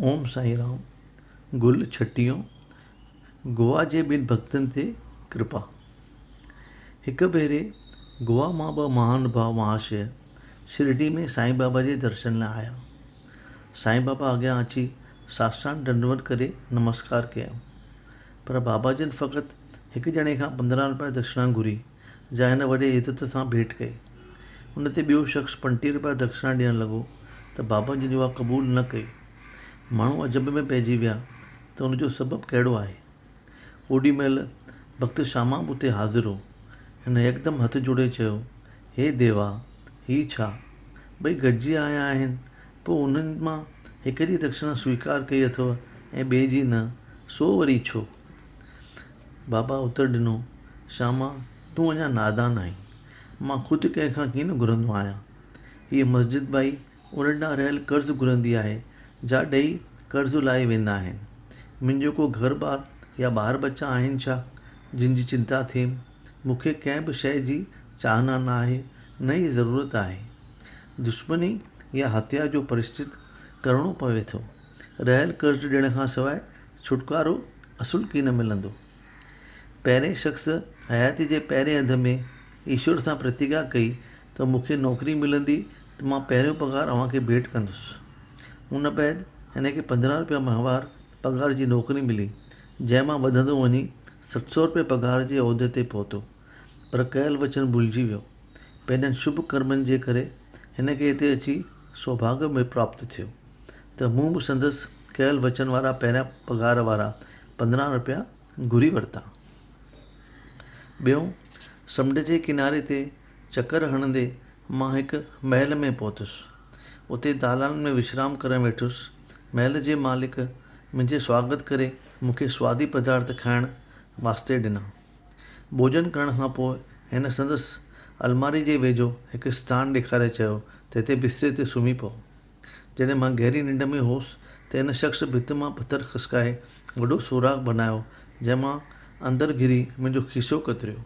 اوم سائين رام گل ڇٽيو گوا جي ٻن ڀڳتن تي ڪرپا هڪ ڀيري گوا مان ٻه مهان ڀاء مهاشيه شرڊي ۾ سائين بابا جي درشن لاء آيا سائين بابا اڳيان اچي ساسٽان ڏنڊوت ڪري نمسڪار ڪيائون پر بابا جن فقط هڪ ڄڻي کان پندرهن روپيا دڪشنا گهري جا هن وڏي عزت سان ڀيٽ ڪئي. ان تي ٻيو شخص پنجٽيهه رپيا دکشنا ڏيڻ لڳو ته بابا جن اها قبول نه ڪئي. ماڻهو عجب ۾ پئجي ويا ته ان جو سبب ڪهڙو آهي. اوڏي مهل ڀڳت شاما به اتي حاضر هو. هن يڪدم هٿ جوڙي چيو، هي ديوا! هي ڇا؟ ٻئي گڏجي آيا آهن، پوء انهن مان هڪ جي دکشنا سويڪار ڪئي اٿو ۽ ٻئي جي نه، سو وري ڇو؟ بابا اتر ڏنو، شاما، تون اڃا نادان آهين. مان خود ڪنهن کان ڪين گهرندو آهيان. هيء مسجد ڀائي ان ڏانهن رهيل قرض گهرندي آهي، جا ڏيئي قرض لاهي ويندا آهن. منهنجو ڪو گهر ٻار يا ٻار ٻچا آهن ڇا، جن جي چنتا ٿئيم؟ مون کي ڪنهن به شيء جي چاهنا نه آهي، نه ئي ضرورت آهي. دشمني يا هتيا جو پرشچت ڪرڻو پوي ٿو. رهيل قرض ڏيڻ کان سواء ڇوٽڪارو اصل ڪي نه ملندو. پهرين شخص حياتيء جي پهرين اڌ ۾ ايشور سان پرتگيا ڪئي ته مون کي نوڪري ملندي ته مان پهريون پگهار اوهان کي ڀيٽ ڪندس. ان بعد هن کي پندرهن روپيا ماهوار پگهار جي نوڪري ملي، جنهن مان وڌندو وڃي ست سؤ روپيه پگهار جي عهدي تي پهتو. پر ڪيل وچن ڀلجي ويو. پنهنجن شڀ ڪرمن جي ڪري هن کي هتي اچي سوڀاڳ ۾ پراپت ٿيو ته مون به سندس ڪيل وچن وارا پهريان پگهار وارا پندرهن روپيا گهري ورتا ٻيو سمنڊ جي ڪناري تي چڪر هڻندي مان هڪ محل ۾ پهتس اتي دالان ۾ وشرام ڪرڻ ويٺس محل جي مالڪ منهنجي سواگت ڪري مون کي سوادي پدارٿ کائڻ واسطي ڏنا ڀوڄن ڪرڻ کان پوء هن سندس الماري جي ويجهو هڪ اسٿان ڏيکاري چيو ته هتي بستري تي سمهي پئو جڏهن مان گهري ننڊ ۾ هوس ته ان شخص ڀت مان پٿر کسڪائي وڏو سوراخ بنايو جنهن مان اندر گهري منهنجو کيسو ڪتريو.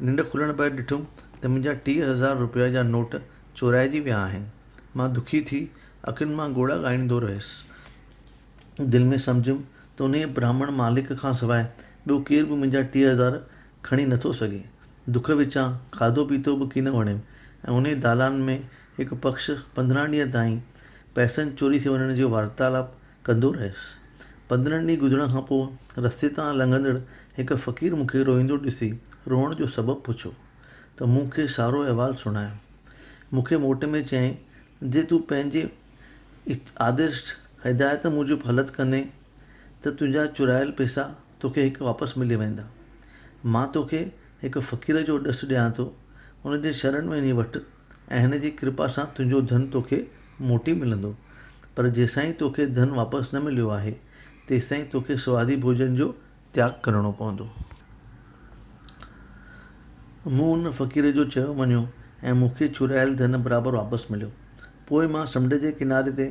ننڊ کلڻ بعد ڏٺم ته منهنجا ٽيهه هزار روپيه جا نوٽ چورائجي ويا آهن. مان دکي ٿي اکين مان ڳوڙها ڳائيندو رهيس. دل ۾ سمجهيم ته انهيء براهمڻ مالڪ کان سواء ٻيو ڪير به منهنجا ٽيهه هزار کڻي نٿو سگهي. دک وچان کاڌو پيتو به ڪين وڻيم ۽ انهيء دالان ۾ هڪ پکش پندرهن ڏينهن تائين پئسن چوري ٿي وڃڻ جي وارتالپ ڪندو رهيس. پندرهن ڏينهن گذرڻ کان پوء رستي تان لنگهندڙ هڪ فقير مون کي روئيندو ڏسي روئڻ جو سبب پڇيو ته مون کي سارو احوال سڻايو. مون کي موٽ ۾ چيائين جي تون پنهنجي آدرش، هدايت، موجب هلت ڪندين ته تنهنجا چرايل پئسا توکي هڪ واپس ملي ويندا. مان توکي هڪ فقير جو ڏس ڏيان ٿو، ان جي شرن ۾ وڃي وٺ ۽ هن جي ڪرپا سان تنهنجو ڌن توکي موٽي ملندو. پر جيسين توکي ڌن واپس نه مليو آهي، تيستائين توکي سوادي ڀوڄن جو تياڳ ڪرڻو پوندو. مون ان فقير جو چيو مڃيو ۽ مون کي ڇوڙايل ڌن برابر واپس مليو. پوء مان سمنڊ جي ڪناري تي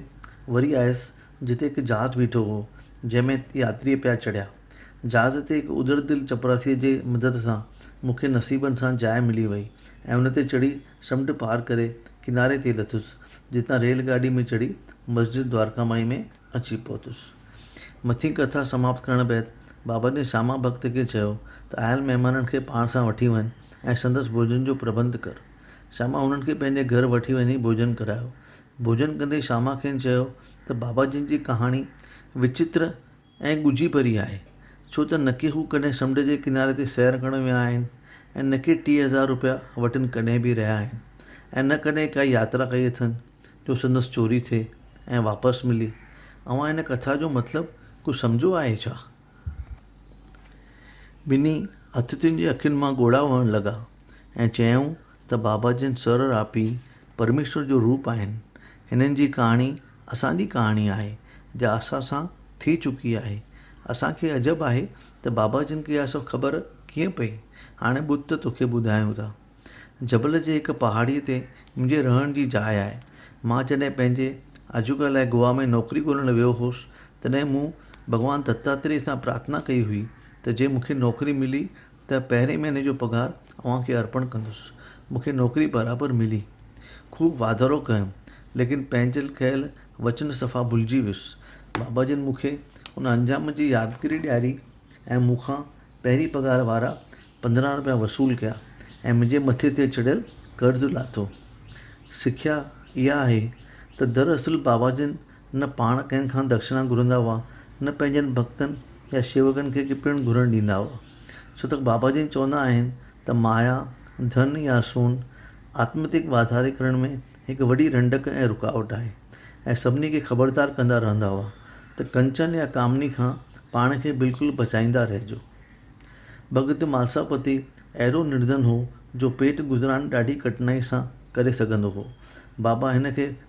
وري آيس، جتي هڪ جهاز بيٺو هو، جنهن ۾ ياتري پيا چڙهيا. جھاز تي هڪ اجڙ دل چپراسيء جي مدد سان مون کي نصيبن سان جاء ملي وئي ۽ ان تي چڙهي سمنڊ پار ڪري ڪناري تي لٿس، جتان ريل گاڏي ۾ چڙهي مسجد دوارڪا مائي ۾ اچي پهتس. مٿين ڪٿا سماپت ڪرڻ بعد بابا جن شاما ڀڳت کي چيو ته آيل مهمانن کي پاڻ سان وٺي وڃ ۽ سندس ڀوڄن جو پرٻنڌ ڪر. شاما هنن کي پنهنجي گهر وٺي وڃي ڀوڄن ڪرايو. ڀوڄن ڪندي شاما کين چيو ته بابا جن جي ڪهاڻي وچتر ۽ ڳجهي ڀري آهي، ڇو ته نڪي هو ڪڏهن سمنڊ جي ڪناري تي سير ڪرڻ ويا آهن ۽ نڪي ٽيهه هزار روپيا وٽن ڪڏهن به رهيا آهن ۽ نه ڪڏهن ڪا ياترا ڪئي اٿن جو سندس چوري ٿئي ۽ واپس ملي. اوهان هن ڪٿا جو مطلب ڪجهه سمجهيو آهي ڇا؟ ٻنهي اٿتين جي اکين مان ڳوڙها وهڻ لڳا ۽ چيائون ته بابا جن سر راپي پرميشور جو روپ آهن هنن جي ڪهاڻي اسان جي ڪهاڻي آهي جا اسان سان ٿي چڪي آهي اسان کي عجب آهي ته بابا جن کي اها سڀ خبر ڪيئن پئي هاڻي ٻڌ ته توکي ٻڌايون ٿا جبل جي هڪ پهاڙي تي منهنجي رهڻ جي جاء آهي مان جڏهن پنهنجي آجوڪا لاء گوا ۾ نوڪري ڳولڻ ويو هوس تڏهن مون ڀڳوان دتاتري سان پرارٿنا ڪئي هئي ته جي مونکي نوڪري ملي ته پهرين مهيني جو پگهار اوهان کي ارپڻ ڪندس. مون کي نوڪري برابر ملي. خوب واڌارو ڪيم، ليڪن پنهنجل ڪيل وچن صفا ڀلجي ويس. بابا جن مون کي ان انجام جي يادگري ڏياري ۽ مون کان پهرين پگهار وارا پندرهن رپيا وصول ڪيا ۽ منهنجي مٿي تي چڙهيل قرض لاٿو. سکيا اها آهي ته دراصل بابا جن نه پاڻ ڪنهن کان دڪشنا گهرندا هئا، نه پنهنجن ڀڳتن يا شيوڪن کي پڻ گهرڻ ڏيندا هئا. ڇو ته بابا جن چوندا آهن ته مايا، ڌن يا سون، آتمتڪ واڌاري ڪرڻ ۾ هڪ وڏي رنڊڪ ۽ رڪاوٽ آهي ۽ سڀني کي خبردار ڪندا رهندا هئا ته ڪنچن يا ڪامني کان پاڻ کي بلڪل بچائيندا رهجو. ڀڳت مالساپتي اهڙو نردن هو جو پيٽ گذران ڏاڍي ڪٺنائي سان ڪري سگهندو هو. بابا هن کي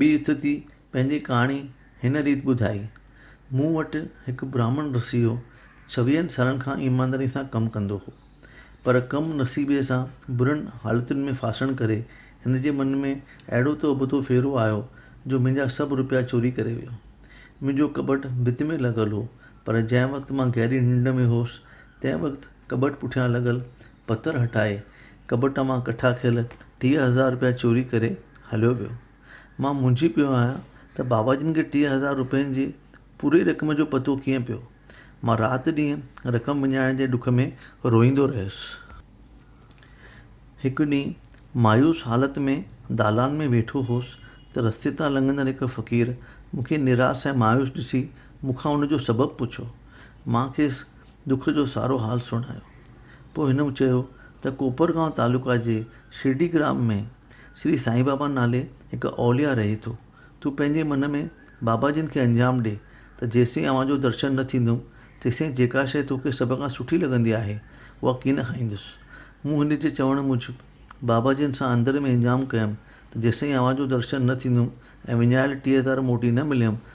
ٻي اتتي پنهنجي ڪهاڻي هن ريت ٻڌائي، مون وٽ هڪ برهمڻ رسي هو، ڇويهن سالن کان ايمانداريء سان ڪم ڪندو هو، پر ڪم نصيبي سان برن حالتن ۾ ڦاسڻ ڪري هن جي من ۾ اهڙو ته ابتو ڦيرو آيو جو منهنجا سڀ روپيا چوري ڪري ويو. منهنجو ڪٻٽ ڀت ۾ لڳل هو، پر جنهن وقت مان گهري ننڊ ۾ هوس، تنهن وقت ڪٻٽ پٺيان لڳل پٿر هٽائي ڪٻٽ مان ڪٺا ڪيل ٽيهه هزار روپيا چوري ڪري هليو ويو. مان موهجي پيو آهيان ته بابا جن کي ٽيهه هزار روپين جي پوري رقم جو پتو ڪيئن پيو. مان رات ڏينهن رقم وڃائڻ جي ڏک ۾ روئيندو رهيس. هڪ ڏينهن مايوس حالت ۾ دالان ۾ ويٺو هوس ته رستي تان لنگهندڙ هڪ فقير مون کي نراس ۽ مايوس ڏسي مون کان ان جو سبب پڇيو. مان کيس دک جو سارو حال سڻايو. پوء هن چيو ته ڪوپرگائون تعلقه جي شرڊي گرام ۾ شري سائين بابا نالي هڪ اولياء رهي ٿو. تون پنهنجي من ۾ بابا جن کي انجام ڏي ته جيسين اوهان جو درشن نه ٿيندو تيسين جيڪا شيء توکي سڀ کان سٺي لڳندي آهي اها ڪين کائيندس. مون هن جي چوڻ موجب بابا جن سان اندر ۾ انجام ڪيم ته جيسين اوهان جو درشن نه ٿيندو ۽ وڃايل ٽيهه هزار موٽي نه مليم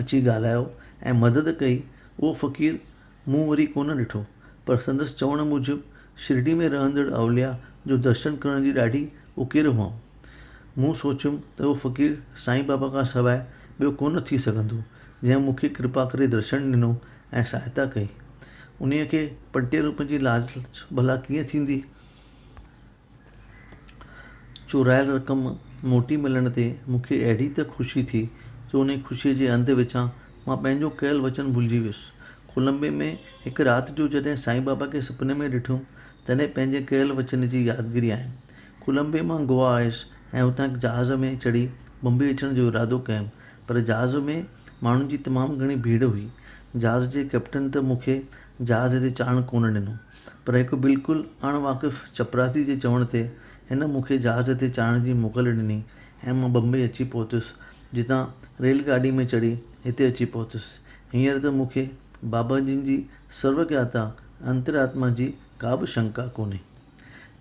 اچي ڳالهايو ۽ مدد ڪئي، اهو فقير مون وري ڪونه ڏٺو، پر سندس چوڻ موجب شرڊي ۾ رهندڙ اولياء جو درشن ڪرڻ جي ڏاڍي اڪير هئم. مون سوچيم ته اهو فقير سائين بابا کان سواء ٻيو ڪونه ٿي سگهندو، جنهن مون کي ڪرپا ڪري درشن ڏنو ۽ سهائتا ڪئي. انهيء کي پنٽيهه روپين جي لالچ ڀلا ڪيئن ٿيندي؟ چورايل رقم موٽي ملڻ تي مون کي اهڙي ته خوشي ٿي جو انهيء خوشيء جي انڌ وچان مان پنهنجو ڪيل وچن ڀلجي ويس. ڪولمبي ۾ هڪ رات جو جڏهن سائين بابا کي سپني ۾ ڏٺم، تڏهن پنهنجي ڪيل وچن جي يادگيري آيم. ڪولمبي مان گوا آيس ۽ اتان هڪ جهاز ۾ چڙهي بمبئي اچڻ جو ارادو ڪيم، پر جهاز ۾ ماڻهن جي تمام گهڻي ڀيڙ هئي. جهاز جي ڪئپٽن ته مون کي جهاز تي چاڙهڻ ڪونه ڏنو. پر هڪ بلڪل اڻ واقف چپراسي جي چوڻ تي هن مون کي جهاز تي چاڙهڻ جي موڪل ڏني ۽ مان بمبئي اچي پهتس، جتان ريل گاڏي ۾ چڙهي هتي اچي پهتس. هينئر ته مون کي بابا جن جي سرواگياتا، انترآتما، جي ڪا به شنڪا ڪونهي.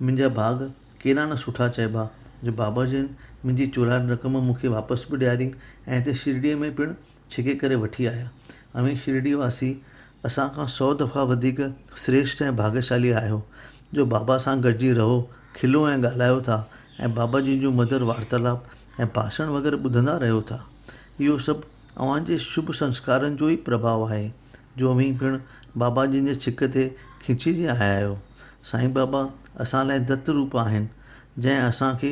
منهنجا ڀاڳ ڪيڏا نه سٺا چئبا جو بابا جن منهنجي چورايل رقم مون کي واپس به ڏياري ۽ هتي شرڙيء ۾ پڻ ڇڪي ڪري وٺي آيا. اوهين شرڊي واسي اسان کان سؤ دفعا وڌيڪ سريشٽ ۽ ڀاڳيشالي آهيو، جو بابا سان گڏجي رهو، کلو ۽ ڳالهايو ٿا ۽ بابا جن جون مڌر وارتالپ ۽ ڀاشڻ وغيره ٻڌندا رهيو ٿا. اهو سڀ اوهان جي شڀ سنسڪارن جو ئي پرڀاء آهي، جو اوهين پڻ بابا جن جي ڇڪ تي کينچجي آيا آهيو. سائين بابا اسان لاء دت روپ آهن، جنهن اسان کي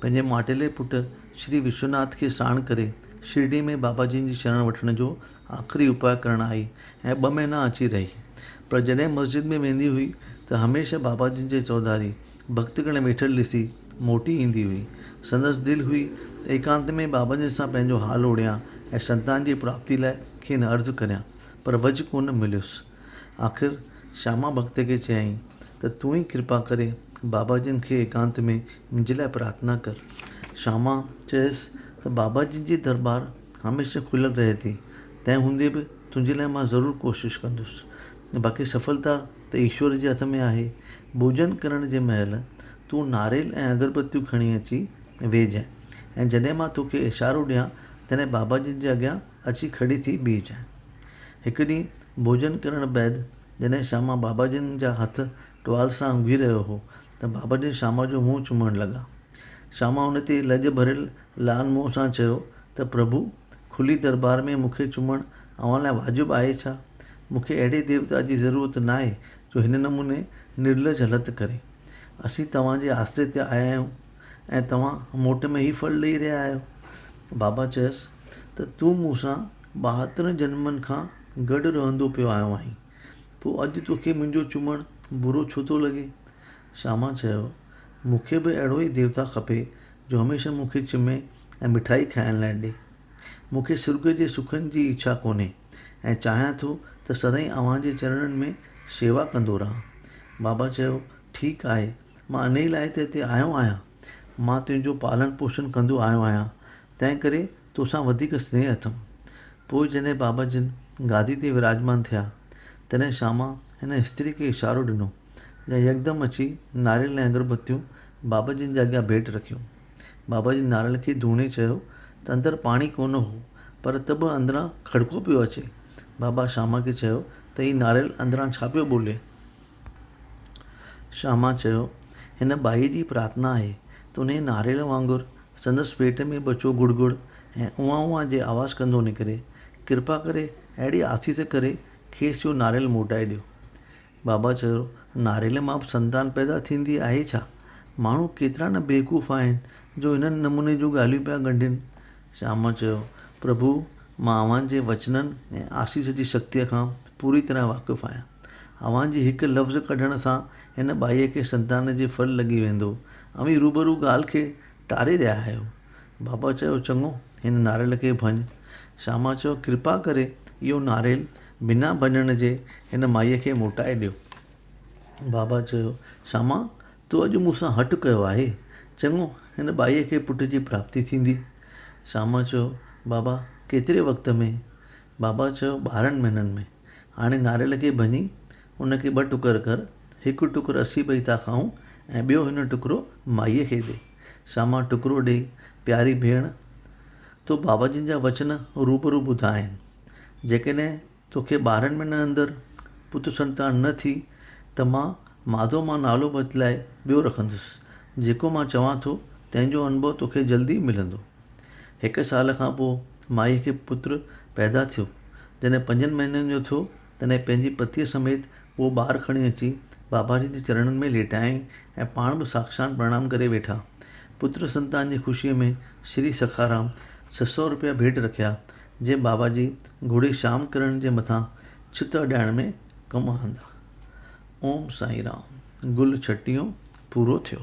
پنهنجي ماٽيلي پٽ شري وشوناٿ کي ساڻ ڪري شرڊي ۾ بابا جن جي شرڻ وٺڻ جو آخري اپاء ڪرڻ آئي ۽ ٻه مهينا اچي رهي. پر جڏهن مسجد ۾ ويندي هئي ته هميشه بابا جن جي چوڌاري ڀڳت گڻ ويٺل ڏسي موٽي ايندي هئي. سندس دل هئي ته ايڪانت ۾ بابا جن سان پنهنجو حال اوڙيان ۽ سنتان جي پراپتي لاء کين عرض ڪريان پر وجهه ڪونه مليس. آخر شاما ڀڳت کي چيائين ته تون ئي ڪرپا ڪري بابا جن کي ايڪانت ۾ منهنجي لاء پرارٿنا ڪر. شياما چيس ته بابا جي جي درٻار هميشه کليل رهي ٿي، تنهن هوندي به تنهنجي لاء مان ضرور ڪوشش ڪندس. باقي سڦلتا ته ايشور جي هٿ ۾ آهي. ڀوڄن ڪرڻ جي مهل تون ناريل ۽ اگربتيون کڻي اچي ويهجانء ۽ جڏهن مان توکي اشارو ڏيان تڏهن بابا جن جي اڳيان اچي کڙي ٿي بيهجانء. هڪ ڏينهن ڀوڄن ڪرڻ بعد جڏهن شياما بابا جن جا هٿ ٽوال سان اونگهي رهيو هو ته بابا جن شاما جو منهن چمڻ لڳا. شاما هن تي لڄ ڀريل لعل منهن سان چيو ته پرڀو! کلي درٻار ۾ مون کي چمڻ اوهان لاء واجب آهي ڇا؟ مون کي اهڙي ديوتا جي ضرورت ناهي جو هن نموني نرلڄ هلت ڪري. اسين توهان جي آسري تي آيا آهيون ۽ توهان موٽ ۾ هي ڦل ڏيئي رهيا آهيو؟ بابا چيس ته تون مون سان ٻاهترن جنمن کان گڏ رهندو پيو آيو آهين. پوء اڄ توکي منهنجو چمڻ برو ڇو ٿو لڳي؟ شياما چيو، مون کي به اهڙو ئي ديوتا کپي جو هميشه مون کي چمي ۽ مٺائي کائڻ لاء ڏي. مون کي سرڳ جي سکن جي اڇا ڪونهي ۽ چاهيان ٿو ته سدائين اوهان جي چرڻن ۾ شيوا ڪندو رهان. بابا چيو، ٺيڪ آهي، مان انهيء لاء ته هتي آيو آهيان. مان تنهنجو پالڻ پوشڻ ڪندو آيو آهيان، تنهنڪري توسان وڌيڪ سنيهه اٿم. پوء جڏهن بابا جن گادي تي وراجمان ٿيا، تڏهن شاما هن استري کي اشارو ڏنو، جنهن يڪدم اچي ناريل ۽ اگربتيون بابا جن جي اڳيان ڀيٽ رکيون. بابا جن ناريل کي ڌوڻي چيو ته اندر پاڻي ڪونه هو، پر ته به اندران کڙڪو پيو اچي. بابا شاما کي چيو ته هي ناريل اندران ڇا پيو ٻولي؟ شاما چيو، هن ٻائيء جي پرارٿنا آهي ته انهيء ناريل وانگر سندس پيٽ ۾ ٻچو گڙ گڙ ۽ اوهان اوهان جي آواز ڪندو نڪري. ڪرپا ڪري اهڙي آسيس ڪري کيس اهو ناريل موٽائي ڏيو. بابا چيو، ناريل مان به سنتان پيدا ٿيندي آهي ڇا؟ ماڻهو ڪيترا نه بيوقوف آهن جو هن نموني جون ڳالهيون پيا ڳنڍين. شاما چيو، پرڀو مان اوهان جي وچنن ۽ آسيس جي شڪتيء کان پوري طرح واقف آهيان. اوهان جي هڪ لفظ ڪڍڻ سان هن ٻائيء کي سنتان جي ڦل لڳي ويندو. اوهين روبرو ڳالهه کي ٽاري رهيا آهيو. بابا چيو، چڱو، هن ناريل کي ڀڃ. شاما چيو، ڪرپا ڪري اهو ناريل بنا ڀڃڻ جي هن مائيء کي موٽائي ڏيو. بابا چيو، شاما، تو اڄ مون سان هٺ ڪيو آهي. چڱو، هن ٻائيء کي پٽ جي پراپتي ٿيندي. شاما چيو، بابا، ڪيتري وقت ۾؟ بابا چيو، ٻارهن مهينن ۾. هاڻي ناريل کي ڀڃي، ان کي ٻه ٽڪر ڪر. هڪ ٽڪر اسين ٻئي ٿا کائون ۽ ٻيو هن ٽڪرو مائيء کي ڏي. شاما ٽڪرو ڏيئي، پياري ڀيڻ، تو بابا جن جا وچن روبرو ٻڌا آهن. جيڪڏهن تو کي ٻارهن مهينن اندر پت سنتان نه ٿي ته مان ماڌو مان نالو بدلائي ٻيو رکندس. جيڪو مان چوان ٿو، تنهن جو انڀو تو کي جلدي ملندو. هڪ سال کان پوء مائيء کي پٽ پيدا ٿيو. جڏهن پنجن مهينن جو ٿيو، تڏهن پنهنجي پتيء سميت اهو ٻار کڻي اچي باباجي جي چرڻن ۾ ليٽايائين ۽ پاڻ به ساڪشان پرڻام ڪري ويٺا. پٽ سنتان جي خوشيء ۾ شري سکارام ڇهه سؤ رپيا ڀيٽ رکيا، جي باباجي گهوڙي شام ڪرڻ جي مٿان ڇت اڏائڻ ۾ ڪم آندا. اوم سائين رام گل ڇٽيون پورو ٿيو.